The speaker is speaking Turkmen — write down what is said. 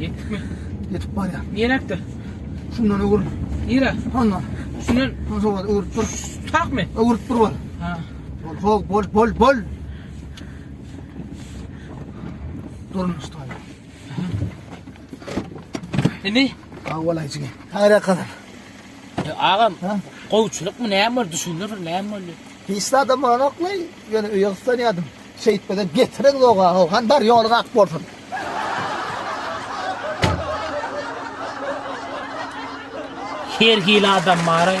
Ýetdikmi? Ýetip barýar. Nireňkde? Şundan öwür. Nire? Hondan. Şundan. Hon sowat öwürip dur. Takmy? Öwürip dur bol. Ha. Bol, bol, bol, bol, bol. Durun usta. Indi? Awalay jigim. Ara kazan. E, Agam, Ha? gowçuluk mu näme boldy düşündür näme boldy? Hiç adam bana oklay. Yani öýe ıslanýardym. Şeýtmese getiren zoga how han bar ýolyň ak bolsun. Her hili adam baraý.